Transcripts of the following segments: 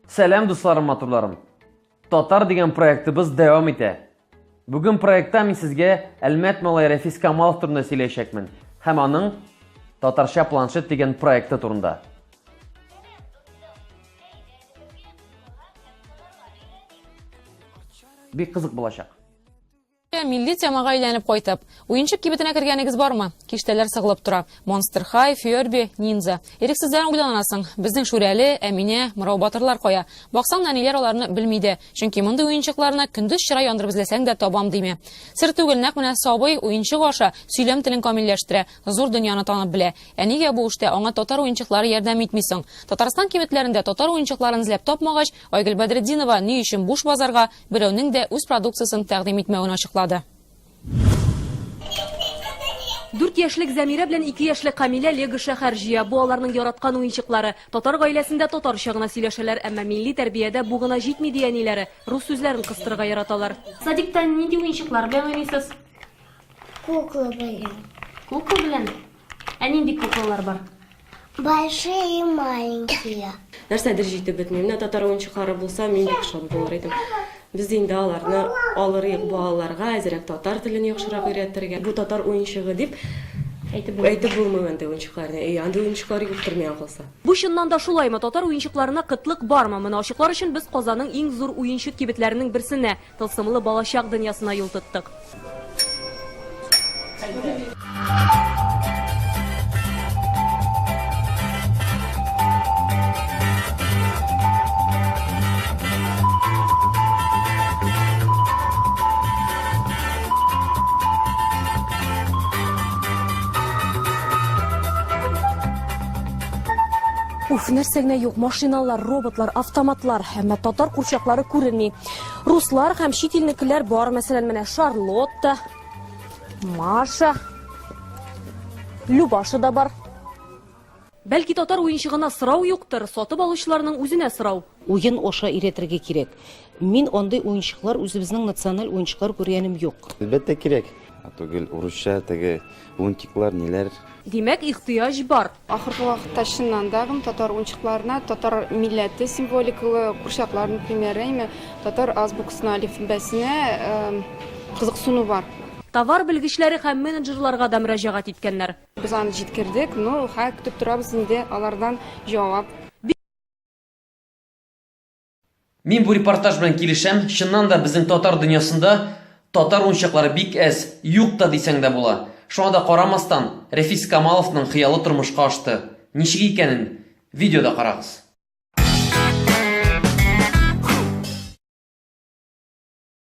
Сәлам дусларым, матурларым. Татар дигән проектыбыз дәвам итә. Бүген проектта мин сезгә Әлмәт малай Рәфис Камалов турында сөйләячәкмен һәм аның Татарча планшет дигән проекты турында. Бик кызык булачак. Милли темага әйләнеп кайтып, уенчык кибетенә кергәнегез бармы? Киштәләр сыгылып тора. Монстер Хай, Фиорби, Нинза. Ирексездән уйланасың, безнең Шүрәле, Әминә, Мырау батырлар кая? Баксаң, нәниләр аларны белми дә, чөнки мондый уенчыкларны көндез чыра яндырып эзләсәң дә табам димә. Сер түгел, нәкъ менә сабый, уенчык аша, сөйләм телен камилләштерә, зур дөньяны танып белә. Ә нигә бу эштә аңа татар уенчыклары ярдәм итми соң? Татарстан кибетләрендә татар уенчыкларын эзләп тапмагач, Айгөл Бәдретдинова ни өчен буш базарга, берәүнең дә үз продукциясен тәкъдим итмәвен ачыклады. Дүрт яшьлек Зәмирә белән ике яшьлек Камилә лего шәһәр җыя. Бу аларның яраткан уенчыклары. Татар гаиләсендә татарча гына сөйләшәләр, әмма милли тәрбиядә бу гына җитми, ди әниләре, рус сүзләрен кыстырырга яраталар. Садикта нинди уенчыклар белән уйныйсыз? Кукла белән. Кукла белән? Ә нинди куклалар бар? Большие и маленькие. Нәрсәдер җитеп бетми. Менә татар уенчыклары булса, мин бик шат булыр идем. Без инде аларны алырыйк балаларга, әзерәк татар телен яхшырак өйрәтергә. Бу татар уенчыгы дип Әйтеп булмый. Әйтеп булмый андый уенчыкларны. Әй, андый уенчыклар юктыр миңа калса. Бу чыннан да шулаймы, татар уенчыкларына кытлык бармы? Моны ачыклар өчен без Казанның иң зур уенчык кибетләренең берсенә, Тылсымлы балачак дөньясына юл тоттык. Уф, нәрсә генә юк, машиналар, роботлар, автоматлар, әмма татар курчаклары күренми. Руслар һәм чит илнекеләр бар, мәсәлән, менә Шарлотта, Маша, Любаша да бар. Бәлки татар уенчыгына сорау юктыр, сатып алучыларның үзенә сорау. Уен аша өйрәтергә кирәк. Мин андый уенчыклар үзебезнең националь уенчыклар күргәнем юк. Әлбәттә кирәк. Ә түгел урысча теге унтиклар ниләр. Димәк, ихтыяҗ бар. Ахыргы вакытта чыннан да гм татар унчыкларына татар милләте символикалы курчаклар, например, әйме, татар азбукасына, алифбәсенә кызыксыну бар. Товар белгечләре һәм менеджерларга да мөрәҗәгать иткәннәр. Без аны җиткердек, ну, хәер, көтеп торабыз инде алардан җавап. Мин бу репортаж белән килешәм, чыннан да безнең татар дөньясында татар уенчыклары бик әз, юк та дисәң дә була. Шуңа да карамастан, Рәфис Камаловның хыялы тормышка ашты. Ничек икәнен видеода карагыз.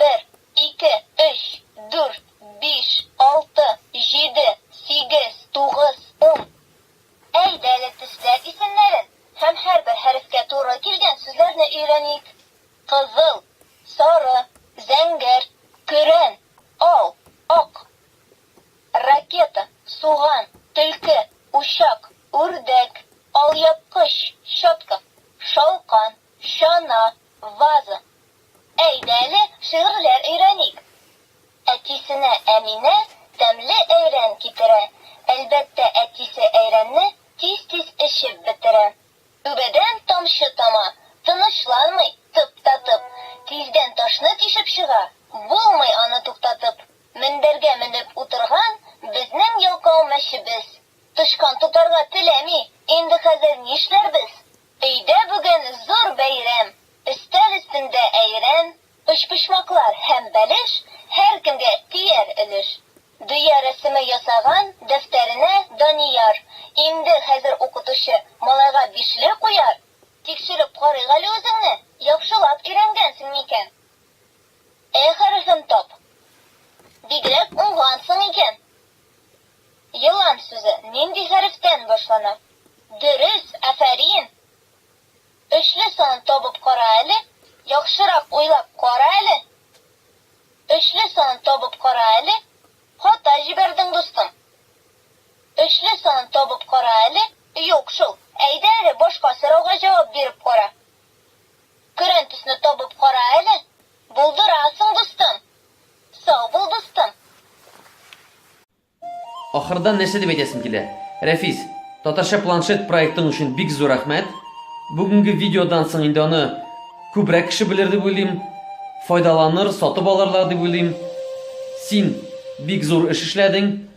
Бер, ике, өч, дүрт, биш, алты, җиде, сигез, тугыз, ун. Әйдә әле төсләр исемнәрен һәм һәрбер хәрефкә туры килгән сүзләрне өйрәник. Кызыл, сары, зәңгәр, көрән, ал, ак. Ракета, суган, төлке, учак, үрдәк, алъяпкыч, щетка, шалкан, чана, ваза. Әйдә әле шигырьләр өйрәник. Әтисенә Әминә тәмле әйрән китерә. Әлбәттә, әтисе әйрәнне тиз-тиз эчеп бетерә. Түбәдән тамчы тама, тынычланмый, тып та тып. Тиздән ташны тишеп чыга, булмый аны туктатып. Мендәргә менеп утырган безнең ялкау мәчебез. Тычкан тотарга теләми, инде хәзер нишләрбез? Өйдә бүген зур бәйрәм, Өстәл өстендә әйрән, Өчпочмаклар һәм бәлеш, Һәркемгә тияр өлеш. Дөя рәсеме ясаган дәфтәренә Данияр, Инде хәзер укытучы малайга бишле куяр! Тикшереп карыйк әле үзеңне, Яхшылап өйрәнгәнсең микән? Э хәрефен тап. Бигрәк уңгансың икән! Елан сүзе нинди хәрефтән башлана? Дөрес, афәрин! Өчле санын табып кара әле, яхшырак уйлап кара әле. Өчле санын табып кара әле, хата җибәрдең, дустым. Өчле санын табып кара әле. Юк шул, әйдә әле башка сорауга җавап биреп кара. Көрән төсне табып кара әле, булдырасың, дустым! Сау бул дустым. Ахырдан нәрсә дип әйтәсем килә. Рәфис, Татарча планшет проектың өчен бик зур рәхмәт. Бүгенге видеодан соң инде аны күбрәк кеше белер дип уйлыйм. Файдаланыр, сатып алырлар дип уйлыйм. Син бик зур эш эшләдең.